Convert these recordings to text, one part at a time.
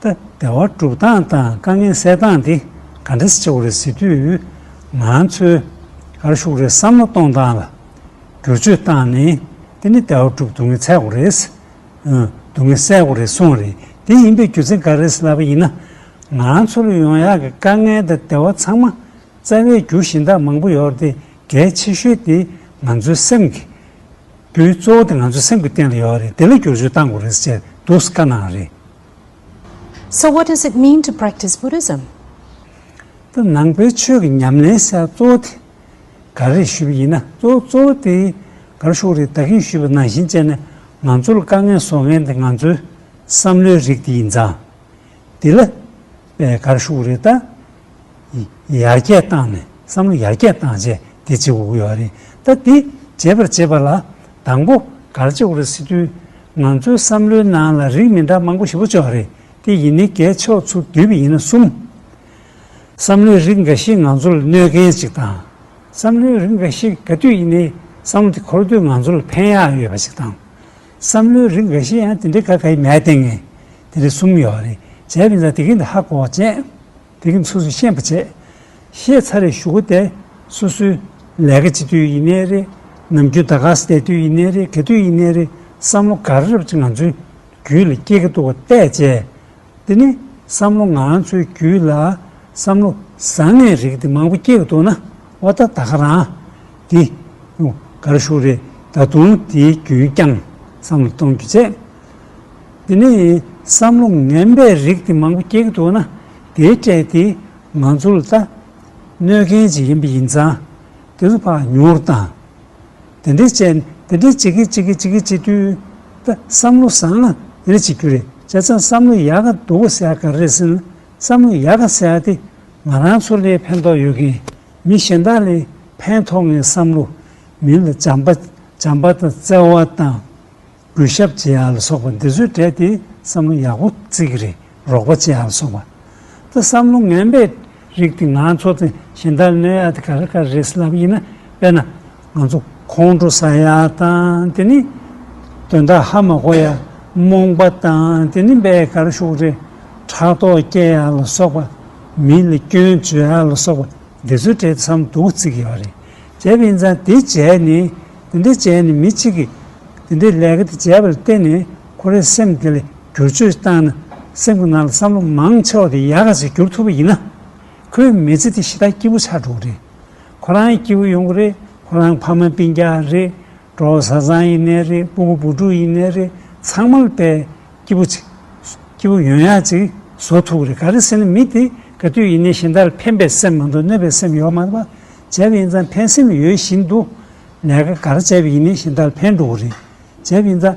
ད་ལྟ་བ་སྒྲུབ་སྟངས་དང་དཀའ་ངལ་སེལ་སྟངས་དེ་ག་འདྲ་ཆེ་བ་རེད་ཟེར་དུས། ང་ཚོས་གར་ཞུགས་རེར་བསམ་བློ་གཏོང་སྟངས་ལ་བསྒྱུར་བཅོས་བཏང་ནས་དེ་ནི་ད་བ་སྒྲུབ་སྡུག་བསྔལ་ཚད་དགོས་རེད། སྡུག་བསྔལ་བསལ་དགོས་རེད་གསུངས་རེད་དེ་ཡིན་པའི་རྒྱུ་མཚན་ག་རེད་ལབ་པ་ཡིན་ན། ང་ཚོར་ཡོང་ཡག་གི་དཀའ་ངལ་དང་དེ་བ་ཚང་མ་རྩ་བའི་རྒྱུ་གཞན་དག་མང་པོ་ཡོད་རེད་དེ་གལ་ཆེ་ཤོས་དེ་ང་ཚོའི་སེམས་ཀྱི་བུ་གཙོ་བོ་དེ་ང་ཚོའི་སེམས་ཀྱི་སྟེང་ལ་ཡོད་པ་རེད་དེ་ལ་བསྒྱུར་བཅོས་གཏང་དགོས་རེད་ཟེར་འདུག་དཀའ་སྣང་རེད། So what does it mean to practice Buddhism? ད་ནང་པའི་ཆོས་ཀྱི་ཉམས་ལེན་ས་གཙོ་བོ་དེ་ག་རེད་ཞུས་པ་ཡིན་ན་གཙོ་བོ་གཙོ་བོ་དེ་ག་རེ་ཤོག་རེད་ད་གིན་ཞུས་པ་ནང་བཞིན་བྱས་ནས་ང་ཚོ་ལ་དཀའ་ངལ་བཟོ་མཁན་དེ་ང་ཚོའི་བསམ་བློའི་རིགས་དེ་ཡིན་ཙང། དེ་ལ་པའི་གར་ཤུགས་རེ་ད་ཡར་རྒྱས་བཏང་ནས་བསམ་བློ་ཡར་རྒྱས་བཏང་བྱས་དེ་བྱེད་དགོས་ཀྱི་ཡོད་རེད་ད་དེ་བྱེད་པར་བྱེད་པ་ལ་དང་པོ་གར་བྱེད་དགོས་རེད་སི་ཏུ་ང་ཚོའི་བསམ་བློའི་ནང་ལ་རིགས་མི་འདྲ་མང་པོ་ཞིག་བུ་ཆོག་རེད་དེ་ཡིན་ནི་གལ་ཆོག་ཚུ་དུས་བུ་ཡིན་ན་གསུམ། བསམ་བློའི་རིགས་འགའ་ཞིག་ང་ཚོ་ལ་གནོད་མཁན་ཞིག་དང། བསམ་བློའི་རིགས་འགའ་ཞིག་ག་དུས་ཡིན་ནི་བསམ་བློ་དེ་འཁོར་དུས་ང་ཚོ་ལ་ཕན་ཡག་ཡོད་པ་ཞིག་དང། བསམ་བློའི་རིགས་འགའ་ཤས་ཡང་དེ་འདྲའི་ཁ་ཁ་ཡི་མའི་སྟེང་ནས་དེ་འདྲ་གསུངས་ཡོད་རེད་བྱས་པའི་ན་དེ་གི་ན་ཧ་གོ་བ་ཅན། དེ་གི་ཚོས་སུ་ཤེས་པ་ཅན། ཤེས་ཚར་རེ་ཞུ་གོ་དེ་སོ་སོའི་ལས་ཀ་ཅི་དུས་ཡིན་ནའི་རེད་ནམ་རྒྱུན་ད་ག་ས་བསྡད་དུས་ཡིན་ནའི་རེད་ག་དུས་ཡིན་ནའི་རེད་བསམ་བློ་ག་རེ་རབ་ཅིག་ང་ཚོའི་རྒྱུད་ལ་སྐྱེ་གི་འདུག་བ་བལྟས་བྱས་དེ་ནི་བསམ་བློ་ང་ཚོའི་རྒྱུད་ལ་བསམ་བློ་བཟང་ངན་རིགས་དེ་མང་པོ་སྐྱེ་གི་འདུག་ན། ཨོ་ད་ད་ག་རང། འདི། གར་བཞུགས་རེད་ད་དུང་དེའི་རྒྱུན་བསྐྱངས་བསམ་བློ་གཏོང་རྒྱུ་བྱས། དེ་ནས་བསམ་བློ་ངན་པའི་རིགས་དེ་མང་པོ་སྐྱེ་གི་འདུག་ན་དེའི་གྲས་དེ་ང་ཚོ་ལ་ལྟ་གནོད་མཁན་ཅིག་ཡིན་པ་ཡིན་ཙང་དེ་ཚོ་ཕག་ཉོར་དང། དེ་འདྲས་བྱས་དེ་འདྲས་བྱེད་ཀི་བྱེད་ཀི་བྱེད་ཀི་བྱེད་དུས་ད་བསམ་བློ་བཟང་ན་དེ་འདྲས་བྱེད་རྒྱུ་རེད་བྱས་ཙང་བསམ་བློ་ཡག་ག་འདུག་ག་ཟེར་ག་རེ་ཟེར་ན། བསམ་བློ་ཡག་ག་ཟེར་ཡ་དེ་ང་རང་ཚོ་ལས་ཕན་ཐོག་ཡོད་མཁན་མི་གཞན་དག་ལས་ཕན་ཐོག་ངའི་བསམ་བློ་མིན་ལ་བྱམས་པ་བྱམས་པ་དང་བརྩེ་བ་དང་གུས་ཞབས་བྱེད་ཡ་ལ་སོགས་པ་འདི་ཚོའི་གྲས་དེ་བསམ་བློ་ཡག་པོ་བརྩི་གི་རེད་རོགས་པ་བྱེད་ཡ་ལ་སོགས་པ་ད་བསམ་བློ་ངན་པའི་རིགས་དེ་ང་ཚོ་དང་གཞན་དག་ལས་ཡ་དེ་ག་རེ་ག་རེ་རེད་ཟེར་ལབ་ཡིན་ན་དཔེར་ན་ང་ཚོ་ཁོང་ཁྲོ་ཟ་ཡ་དང་དེ་ནི་དོན་དག་ཧ་མ་གོ་ཡ་རྨོངས་པ་དང་དེ་ནི་འབའ་གར་ཤུགས་རེ་ཕྲག་དོག་སྐྱེ་ཡ་ལ་སོགས་པ་མི་ལ་སྐྱོན་བརྗོད་ཡ་ལ་སོགས་པ་འདི་ཚོ་བྲེལ་ཚམ་སྡུག་བརྩིགས་ཡོད་རེད་བྱས་པ་ཡིན་ཙང་དེ་བྱས་ནས་དེ་འདྲ་བྱས་ནས་མི་གཅིག་གིས་དེ་འདྲའི་ལས་ཀ་དེ་བྱས་པ་ལ་བརྟེན་ནས་ཁོ་རའི་སེམས་དེ་ལ་བསྒྱུར་བཅོས་བཏང་ན་སེམས་ཁོ་ན་ལ་བསམ་བློ་མང་ཆེ་བ་དེ་ཡག་ག་ཞིག་བསྒྱུར་ཐུབ་པ་ཡིན་ན་ཁོའི་མི་ཚེ་དེ་ཞེ་ཐག་སྐྱིད་པོ་ཆགས་འགྲོ་གི་རེད། ཁོ་རང་སྐྱེ་བོ་ཡོངས་རེད་ཁོ་རང་ཕ་མ་སྤིན་རྒྱག་རེད་གྲོགས་བཟའ་ཚང་ཡིན་ནས་རེད་སྤུ་གུ་བུ་ཕྲུག་ཡིན་ནས་རེད་ཚང་མ་ལ་པའི་སྐྱེ་བོ་ཅིག་སྐྱེ་བོ་ཡོན་ཡག་ཅིག་བཟོ་ཐུག་རེད་ག་རེ་ཟེར་ན་མི་དེ་ག་དུས་ཡིན་ནས་གཞན་དག་ལ་ཕན་པའི་སེམས་མ་འདུག་གནོད་པའི་སེམས་ཡོད་མ་བྱས་པ་ཡིན་ཙང་ཕན་སེམས་ཡོད་བཞིན་དུ་ལས་ཀ་ག་ར་བྱས་པ་ཡིན་ནས་གཞན་དག་ལ་ཕན་འགྲོ་གི་རེད་བྱས་པ་ཡིན་ཙང།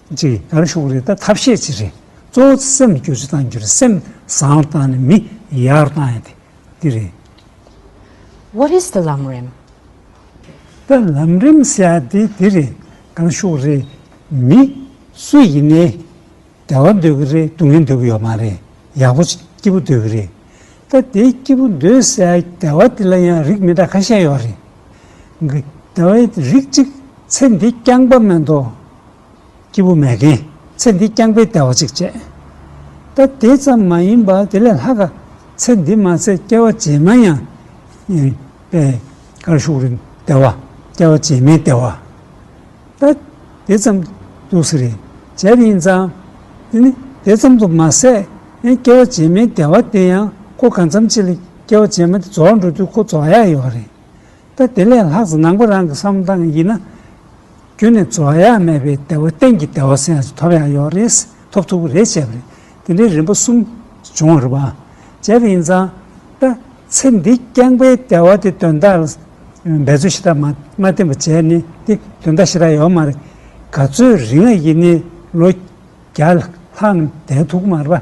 གཅིག་ཡར་ཞོག་རེད་ད་ཐབས་ཤེས་གཅིག་རེད་གཙོ་བོ་སེམས་རྒྱུད་ཅི་བཏང་རྒྱུ་རེད་སེམས་བཟང་བཏང་ནས་མི་ཡར་བཏང་ཡ་དེ་འདི་རེད། What is the ལམ་རིམ། ད་ལམ་རིམ་ཟེར་ཡ་དེ་འདི་རེད་ཡར་ཞོག་རེད་མི་སུ་ཡིན་ནའི་བདེ་བ་འདོད་གི་རེད་སྡུག་བསྔལ་འདོད་གི་ཡོད་མ་རེད་ཡག་པོ་སྐྱིད་པོ་འདོད་གི་རེད་ད་དེ་སྐྱིད་པོ་འདོད་ཟེར་ཡ་བདེ་བ་དེ་ལ་ཡང་རིགས་མི་འདྲ་ཁ་ཤས་ཡོད་རེད་གི་བདེ་བའི་རིགས་གཅིག་ཚེ་འདི་རྐྱང་པ་མེད་དོ་སྐྱིད་པོ་མེད་མཁན་ཚེ་འདི་རྐྱང་པའི་བདེ་བ་ཅིག་སྤྱད། ད་དེ་ཙམ་མ་ཡིན་པར་དེ་ལས་ལྷག་ག་ཚེ་འདི་མ་ཚད་སྐྱེ་བ་རྗེས་མ་ཡང་ཡིན་པས་གར་ཤུགས་རིང་བདེ་བ་སྐྱེ་བ་རྗེས་མའི་བདེ་བ་ད་དེ་ཙམ་འདུག་ཟེར་རེ་བྱས་པ་ཡིན་ཙང་དེ་ནི་དེ་ཙམ་དུ་མ་ཟད་ཡང་སྐྱེ་བ་རྗེས་མའི་བདེ་བ་དེ་ཡང་ཁོ་གང་འཚམ་ཆེད་ལས་སྐྱེ་བ་རྗེས་མ་དེ་རྫོགས་འགྲོ་དུས་ཁོ་རྫོགས་ཡག་ཡོད་པ་རེད། ད་དེ་ལས་ལྷག་ཙམ་ནང་པ་རང་གི་བསམ་བློ་དང་ཡིན་ན། རྒྱུན་ནས་རྫོགས་ཡ་མེད་པའི་བདེ་བ་གཏན་གྱི་བདེ་བ་སེམས་སུ་ཐོབ་ཡང་ཡོད་རེད། ཐོབ་ཐུབ་ཀྱི་རེད་བྱས་པ་རེད། དེ་འདྲའི་རིམ་པ་གསུམ་བྱུང་བ་རེད། བྱས་པ་ཡིན་ཙང། ད་ཚེ་འདི་རྐྱང་པའི་བདེ་བ་དེ་དོན་དག་ལ་འབད་རྩོལ་ཞེ་དྲག་མ་བསྟེན་པར་བྱས་ནས་དེ་དོན་དག་ཞེ་དྲག་ཡོད་མ་རེད། ག་ཚོད་རིང་ཡིན་ནའི་ལོ་བརྒྱ་ལྷག་ནས་བསྡད་ཐུག་གི་མ་རེད་པ།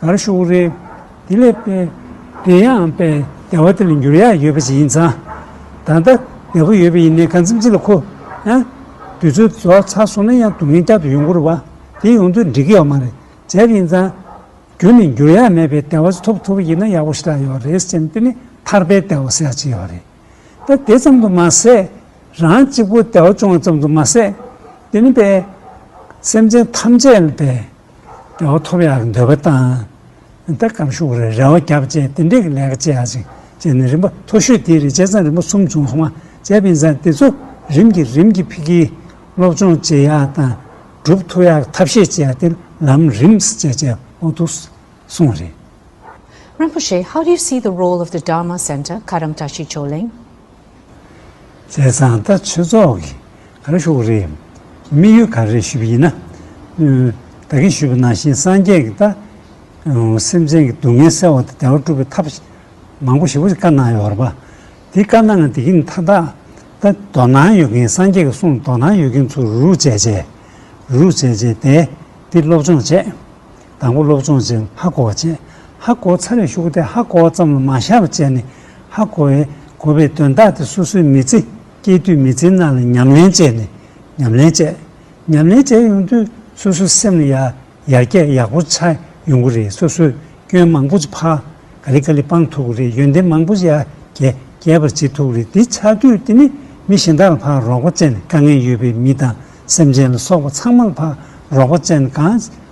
བར་ཤོག་རེ། དེ་ལས་དཔེ་དེ་ཡང་དཔེ་བདེ་བ་དེ་ལ་འགྱུར་ཡག་ཡོད་པ་ཞིག་ཡིན་ཙང། ད་ལྟ་བདེ་བོ་ཡོད་པ་ཡིན་ནའི་གང་འཚམས་སྤྱི་ལ་མཁོ། ཡང། དུས་ཚོད་རྫོགས་ཚར་སོང་ན་ཡང་སྡུག་བསྔལ་བསྐྱར་དུ་ཡོང་སྐོར་བ། དེ་ཡོང་དུས་འགྲིག་གི་ཡོད་མ་རེད། བྱས་པ་ཡིན་ཙང། རྒྱུན་ནས་འགྱུར་ཡག་མེད་པའི་བདེ་བ་ཞིག་ཐོབ་ཐུབ་པ་ཡིན་ན་ཡག་པོ་ཞིག་ལ་ཡོད་རེད་སེམས་དེ་ནི་ཐར་པའི་བདེ་བ་ཟེར་ཡག་ཅིག་ཡོད་རེད། ད་དེ་ཙམ་དུ་མ་ཟད། རང་གཅིག་པུར་བདེ་བ་བྱུང་བ་ཙམ་དུ་མ་ཟད། དེ་ནི་པའི། སེམས་ཅན་ཐམས་ཅད་ལ་བདེ། རེ་བ་ཐོབ་ཡག་འདོད་པ་བཏང། ད་སྐབས་ཤུགས་རེ་རེ་བ་རྒྱབ་བཅས་དེ་འདྲས་ཀྱི་ལས་ཀ་བྱེད་ཡག་ཅིག་བྱས་ནས་རིམ་པ་མཐོ་ཤོས་དེའི་རེ་བྱས་ཚང་རིམ་པ་གསུམ་བྱུང་སོང་བ་བྱས་པའི་མཛད་དེ་ཚོ་རིམ་གྱིས་རིམ་གྱིས་ཕིག་གིས་སློབ་སྦྱོང་བྱེད་ཡག་དང་སྒྲུབ་ཐུབ་ཡག་ཐབས་ཤེས་བྱས་ཡག་དེར་ལམ་རིམ་བཅས་བྱས་འོག་ཏུ་སོང་རེད། རིན་པོ་ཆེ How do you see the role of the Dharma Centre Karamtashi Choling? བྱས་ཙང་ལྟ་ཆོས་ཚོགས་ཀྱི་ག་རེ་ཤོག་རེད། དམིགས་ཡུལ་ག་རེ་ཞུ་བ་ཡིན་ན། བདག་གིས་ཞུས་པ་ནང་བཞིན་སངས་རྒྱས་ཀྱི་ལྟ། སེམས་ཅན་གྱི་སྡུག་བསྔལ་སེལ་བ་དང་བདེ་བ་སྒྲུབ་པའི་ཐབས། མང་པོ་ཞིག་བཀའ་གནང་ཡོད་རེད་པ། དེ་བཀའ་གནང་ནས་དེ་གི་མཐའ་དག་ད་དོ་སྣང་ཡོད་མཁན་སངས་རྒྱས་ཀྱི་གསུང་དོ་སྣང་ཡོད་མཁན་ཚོ་རུ་བྱས་བྱས། རུ་བྱས་བྱས་དེ་དེ་སློབ་སྦྱོང་བྱས། དང་པོ་སློབ་སྦྱོང་བྱེད་ཧ་གོ་བ་བྱས། ཧ་གོ་ཚར་རེ་ཞུགས་སྟེ་ཧ་གོ་བ་ཙམ་ལ་མ་ཤར་བར་བྱས་ནས་ཧ་གོ་བའི་གོ་བའི་དོན་བརྟགས་ཏེ་སོ་སོའི་མི་ཚེ་སྐྱེལ་དུས་མི་ཚེའི་ནང་ལ་ཉམས་ལེན་བྱས་ནས་ཉམས་ལེན་བྱས། ཉམས་ལེན་བྱས་ཡོང་དུས་སོ་སོའི་སེམས་ལ་ཡར་རྒྱས་ཡག་པོ་ཆགས་ཡོང་གི་རེད་སོ་སོས་སྐྱོན་མང་པོ་ཅི་ཕ་ག་ལི་ག་ལི་སྤང་ཐུབ་གི་རེད་ཡོན་ཏན་མང་པོ་ཅི་ཡར་རྒྱས་རྒྱས་པར་བྱེད་ཐུབ་གི་རེད་འདི་ཆགས་དུས་འདི་ནི་མི་གཞན་དག་ལ་ཕ་རོགས་པ་བཅད་ནས་དཀའ་ངལ་ཡོད་པའི་མི་དང་སེམས་ཅན་ལ་སོགས་པ་ཚང་མ་ལ་ཕ་རོགས་པ་བཅད་ནས་གང་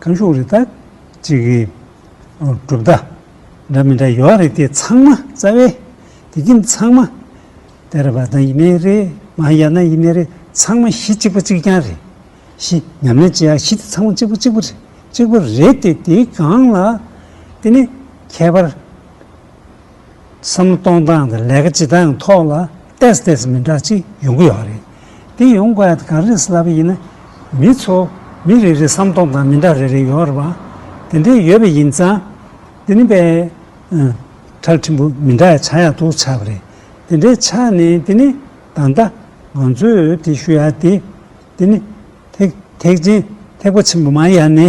ཁམས་གཞུང་རིག་དང། གཅིག་གི། གྲུབ་མཐའ། འདྲ་མི་འདྲ་ཡོད་རེད་དེ་ཚང་མ་རྩ་བའི། དེ་རྒྱུན་ཚང་མ། དེར་བ་དང་ཡིན་ནའི་རེད་མ་ཡ་ན་ཡིན་ནའི་རེད་ཚང་མ་གཞི་གཅིག་པ་གཅིག་རྐྱང་རེད། གཞི་ཉམས་ལེན་བྱེད་ཡག་གཞི་དེ་ཚང་མ་གཅིག་པ་གཅིག་པ་རེད་གཅིག་པ་རེད་དེ་དེའི་སྒང་ལ། དེ་ནི་ཁྱད་པར། བསམ་བློ་གཏོང་སྟངས་དང་ལས་ཀ་བྱེད་སྟངས་ཐོག་ལ་ཏེས་ཏེས་མི་འདྲ་གཅིག་ཡོང་གི་ཡོད་རེད། དེ་ཡོང་དགོས་ཡ་ག་རེ་བསླབ་པ་ཡིན་ན། མི་ཚོ་མི་རེ་རེ་བསམ་སྟོང་དང་མི་འདྲ་རེ་རེ་ཡོད་རེད་བ། དེ་འདྲའི་ཡོད་པ་ཡིན་ཙང། དེ་ནི་པའི། ཁྲག་ཕྲན་བུ་མི་འདྲ་ཡ་ཆ་ཡག་ཏུ་ཆགས་པ་རེད། དེ་འདྲའི་ཆ་ནི་དེ་ནི། ད་ལྟ། ང་ཚོས་དེ་ཞུ་ཡ་དེ། དེ་ནི། ཐེག་ཐེག་ཆེན་ཐེག་པ་ཆེན་པོ་མ་ཡ་ནི།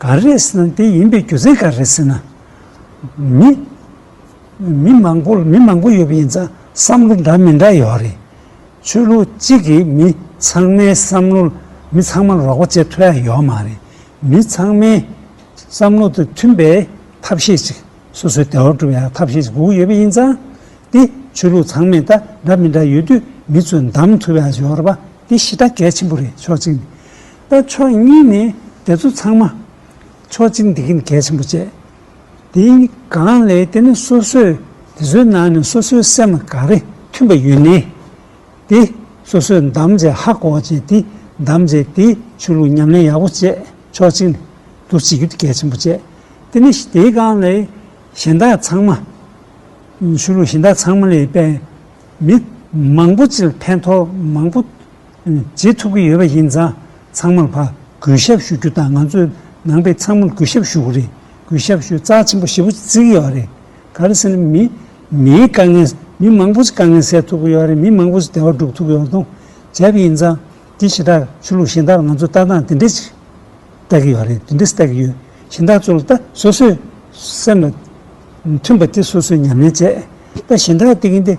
ག་རེ་ཟེར་ན་དེ་ཡིན་པའི་རྒྱུ་མཚན་ག་རེ་ཟེར་ན། མི། མི་མང་པོ་མི་མང་པོ་ཡོད་པ་ཡིན་ཙང་བསམ་བློ་འདྲ་མི་འདྲ་ཡོད་རེད། ཆོས་ལུགས་གཅིག་གིས་མི་ཚང་མའི་བསམ་བློ་ལ་མི་ཚང་མ་རོགས་པ་བྱེད་ཐུབ་ཡ་ཡོད་མ་རེད། མི་ཚང་མའི་བསམ་བློ་དང་མཐུན་པའི་ཐབས་ཤེས་ཅིག་སོ་སོའི་བདེ་བ་སྒྲུབ་ཡ་ཐབས་ཤེས་ཅིག་དགོས་ཀྱི་ཡོད་པ་ཡིན་ཙང། དེ་ཆོས་ལུགས་ཚང་མས་ད་འདྲ་མི་འདྲ་ཡོད་དུས་མི་ཚོས་འདམ་ཐུབ་ཡ་ཡོད་རེད་པ་དེ་ཤི་ད་གལ་ཆེན་པོ་རེད་ཕྱོགས་གཅིག་ནས། ལྟ་ཕྱོགས་གཉིས་ནི་དེ་ཚོ་ཚང་མ། ཕྱོགས་གཅིག་འདི་གིན་གལ་ཆེན་པོ་བྱེད། དེའི་སྒང་ལས་དེ་ནི་སོ་སོས་དེ་ཚོའི་ནང་ནས་སོ་སོའི་སེམས་ལ་ག་རེ་མཐུན་པ་ཡོད་ནི། དེ་སོ་སོས་འདམ་བྱེད་ཧ་གོ་བྱེད་དེ་འདམ་བྱེད་དེའི་ཆོས་ལུགས་ཉམས་ལེན་ཡག་པོ་བྱེད་ཕྱོགས་གཅིག་ནས་འདུ་བྱེད་རྒྱུ་དེ་གལ་ཆེན་པོ་བྱེད། དེ་ནི་དེའི་སྒང་ལས་གཞན་དག་ཚང་མ། ཆོས་ལུགས་གཞན་དག་ཚང་མ་ལས་པའི་མི་མང་པོ་ཅིག་ལ་ཕན་ཐོགས་མང་པོ། བྱེད་ཐུབ་ཀྱི་ཡོད་པ་ཡིན་ཙང་ཚང་མར་ཕ་གུས་ཞབས་ཞུ་རྒྱུ་དང་ང་ཚོས་ནང་པའི་ཚང་མར་གུས་ཞབས་ཞུ་གི་རེད་གུས་ཞབས་ཞུ་རྩ་ཆེན་པོ་ཞེ་པོ་བརྩི་གི་ཡོད་པ་རེད་ག་རེ་ཟེར་ན་མིའི་མིའི་དཀའ་ངལ་མི་མང་པོ་ཞིག་དཀའ་ངལ་སེལ་ཐུབ་ཀྱི་ཡོད་པ་རེད་མི་མང་པོ་ཞིག་བདེ་བ་སྒྲུབ་ཐུབ་ཀྱི་ཡོད་པ་དང་བྱས་པ་ཡིན་ཙང་དེ་ཞེ་དྲག་ཆོས་ལུགས་གཞན་དག་ལ་ང་ཚོས་ལྟ་སྟངས་དེ་འདྲས་ཤིག་ལྟ་གི་ཡོད་རེད་དེ་འདྲས་ལྟ་གི་ཡོད་གཞན་དག་ཚོ་ལ་ལྟ་སོ་སོའི་སེམས་ལ་མཐུན་པ་དེ་སོ་སོས་ཉམས་ལེན་བྱས་ལྟ་གཞན་དག་ལྟ་གིན་ཏེ།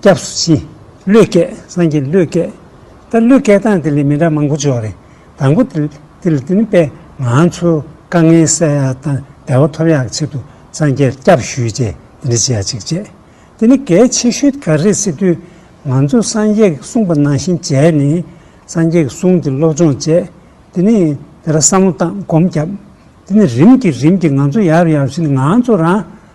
སྐྱབས་སུ་མཆི། བློས་བསྐྱེད་སངས་རྒྱས་བློས་བསྐྱེད། ད་བློས་བསྐྱེད་སྟངས་དེ་ལས་མི་འདྲ་མང་པོ་འབྱུང་བ་རེད། དང་པོ། དེ་ལ་དེ་ནི་དཔེ། ང་ཚོས་དཀའ་ངལ་སེལ་ཡག་དང་བདེ་བ་ཐོབ་ཡག་གི་ཆེད་དུ་སངས་རྒྱས་སྐྱབས་ཞུས་རྗེས་འདི་འདྲ་བྱེད་ཡག་ཅིག་བྱས། དེ་ནི་གལ་ཆེ་ཤོས་ག་རེད་ཟེར་དུས། ང་ཚོས་སངས་རྒྱས་ཀྱི་གསུངས་པ་ནང་བཞིན་བྱས་ནས། སངས་རྒྱས་ཀྱི་གསུང་དེ་སློབ་སྦྱོང་བྱས། དེ་ནས་དེ་ལ་བསམ་བློ་བཏང་སྒོམ་བརྒྱབ། དེ་ནས་རིམ་གྱིས་རིམ་གྱིས་ང་ཚོ་ཡར་ཡར་ཕྱིན་ནས་ང་ཚོ་རང།